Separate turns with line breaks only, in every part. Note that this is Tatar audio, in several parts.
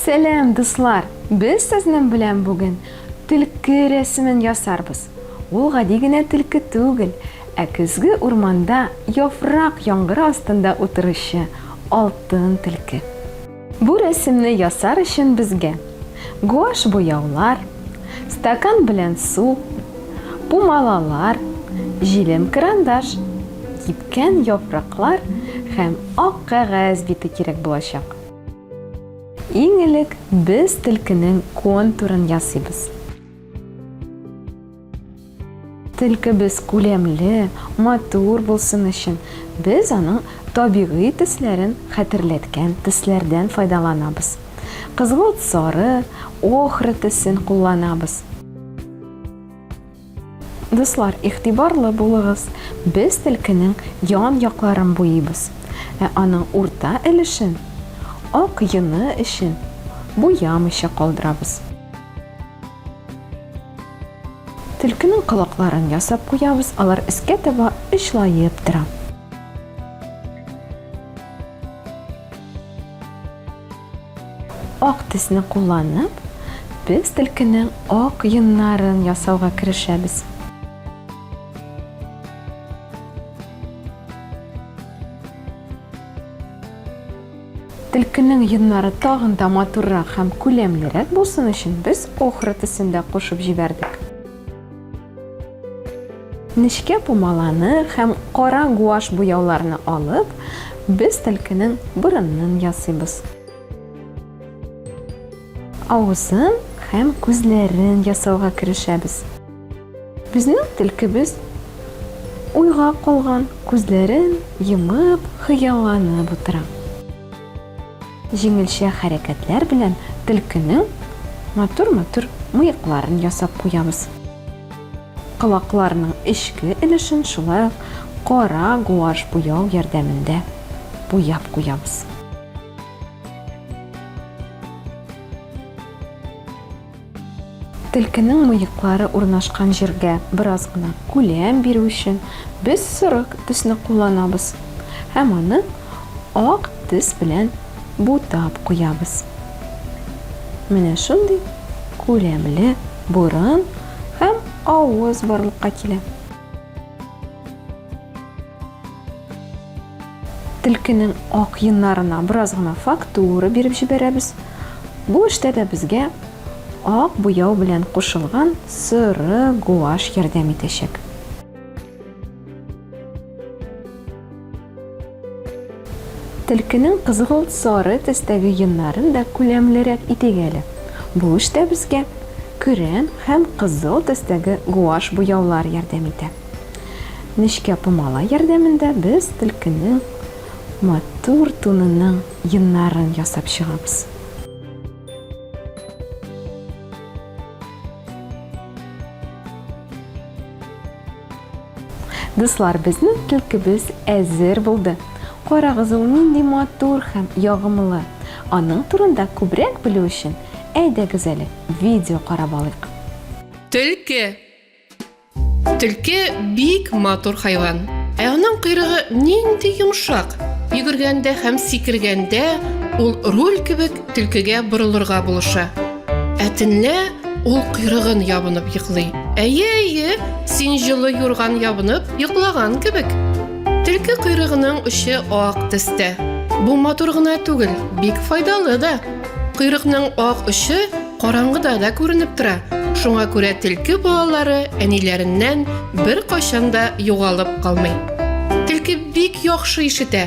Сәлам, дуслар! Без сезнең белән бүген төлке рәсемен ясарбыз. Ул гади генә төлке түгел, ә көзге урманда яфрак яңгыры астында утыручы алтын төлке. Бу рәсемне ясар өчен безгә гуашь буяулар, стакан белән су, пумалалар, җилем карандаш, кипкән яфраклар һәм ак кәгазь бите кирәк булачак. Иң элек без төлкенең контурын ясыйбыз. Телкебез күләмле, матур булсын өчен, без аның табигый төсләрен хәтерләткән төсләрдән файдаланабыз. Кызгылт-сары, охра төсен кулланабыз. Дуслар, игътибарлы булыгыз, без телкенең ян якларын буйыйбыз, ә аның урта өлешен, ак йоны өчен, буямыйча калдырабыз. Төлкенең колакларын ясап куябыз, алар өскә таба очлаеп тора. Ак төсне кулланып, без төлкенең ак йоннарын ясауга керешәбез. Төлкенең йоннары тагын да матуррак һәм күләмлерәк булсын өчен, без охра төсен дә кушып җибәрдек. Нечкә пумаланы һәм кара гуашь буяуларны алып, без төлкенең борынын ясыйбыз. Авызын һәм күзләрен ясауга керешәбез. Безнең телкебез уйга калган, күзләрен йомып, хыялланып утыра. Җиңелчә хәрәкәтләр белән телкенең матур-матур мыекларын ясап куябыз. Колакларның эчке өлешен шулай ук кара гуаш буяу ярдәмендә буяп куябыз. Тилкенең мыеклары урнашкан җиргә бераз гына күләм бирү өчен без сорык төсне кулланабыз һәм аны ак төс белән бутап куябыз. Менә шундый күләмле борын һәм авыз барлыкка килә. Тилкенең ак йыннарына бераз гына фактура биреп җибәрәбез. Бу эштә дә безгә ак буяу белән кушылган соры гуаш ярдәм итәчәк. Тилкенең кызгылт-сары төстәге йоннарын да күләмлерәк итик әле. Бу эштә безгә көрән һәм кызыл төстәге гуашь буяулар ярдәм итә. Нечкә пумала ярдәмендә без тилкенең матур тунының йоннарын ясап чыгабыз. Дуслар, безнең түлкебез әзер булды. Карагыз, ул нинди матур һәм ягымлы. Аның турында күбрәк белү өчен, әйдәгез әле, видео карап алыйк. Төлке.
Төлке бик матур хайван. Ә аның койрыгы нинди йомшак. Йөгергәндә һәм сикергәндә ул руль кебек төлкегә борылырга булыша. Ә төнлә ул койрыгын ябынып йоклый. Әйе, әйе, син җылы юрган ябынып йоклаган кебек. Төлке койрыгының очы ак төстә. Бу матур гына түгел, бик файдалы да. Койрыкның ак очы караңгыда да күренеп тора. Шуңа күрә төлке балалары әниләреннән бер качан да югалып калмый. Төлке бик яхшы ишетә.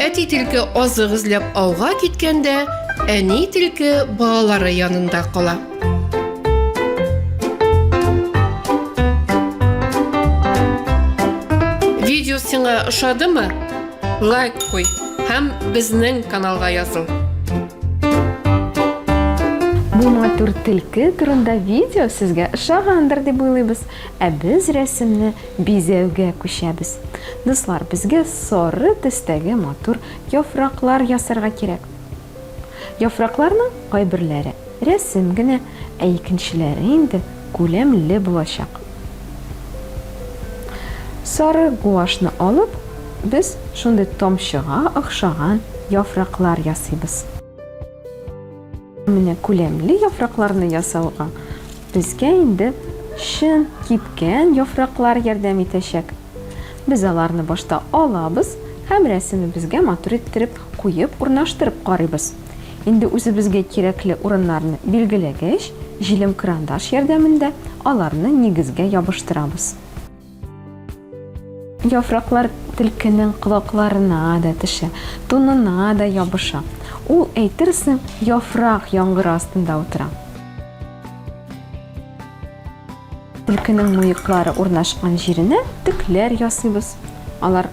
Әти тилке азык эзләп ауга киткәндә, әни тилке балалары янында кала. Видео сиңа ошадымы? Лайк куй һәм безнең каналга языл. Бу
матур тилке турында видео сезгә ошагандыр дип уйлыйбыз. Ә без рәсемне Бизәүгә күчәбез. Дуслар, безгә сары төстәге матур яфраклар ясарга кирәк. Яфракларның кайберләре рәсем генә, ә икенчеләре инде күләмле булачак. Сары гуашны алып, без шундый тамчыга охшаган яфраклар ясыйбыз. Менә күләмле яфракларны ясауга безгә инде чын кипкән яфраклар ярдәм итәчәк. Без аларны башта алабыз һәм рәсемебезгә матур иттереп куеп урнаштырып карыйбыз. Инде үзебезгә кирәкле урыннарны билгеләгәч, җилем-крандаш ярдәмендә аларны нигезгә ябыштырабыз. Яфраклар Төлкенең колакларына да төшә, тунына да ябыша. Ул, әйтерсең, яфрак яңгыры астында утыра. Төлкенең муеклары урнашкан җиренә төкләр ясыйбыз. Алар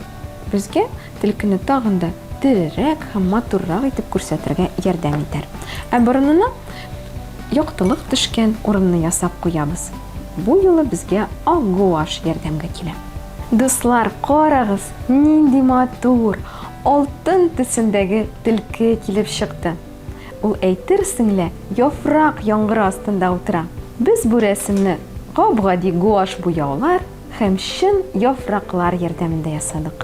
Безгә Төлкене тагын да терерәк һәм матуррак итеп күрсәтергә ярдәм итәр. Ә борынына яктылык төшкән урынны ясап куябыз. Бу юлы безгә ак гуаш ярдәмгә килә. Дуслар, карагыз, нинди матур, алтын төсендәге Төлке килеп чыкты! Ул әйтерсең лә яфрак яңгыры астында утыра. Без бу рәсемне гап-гади гуаш буяулар, Һәм чын яфраклар ярдәмендә ясадык.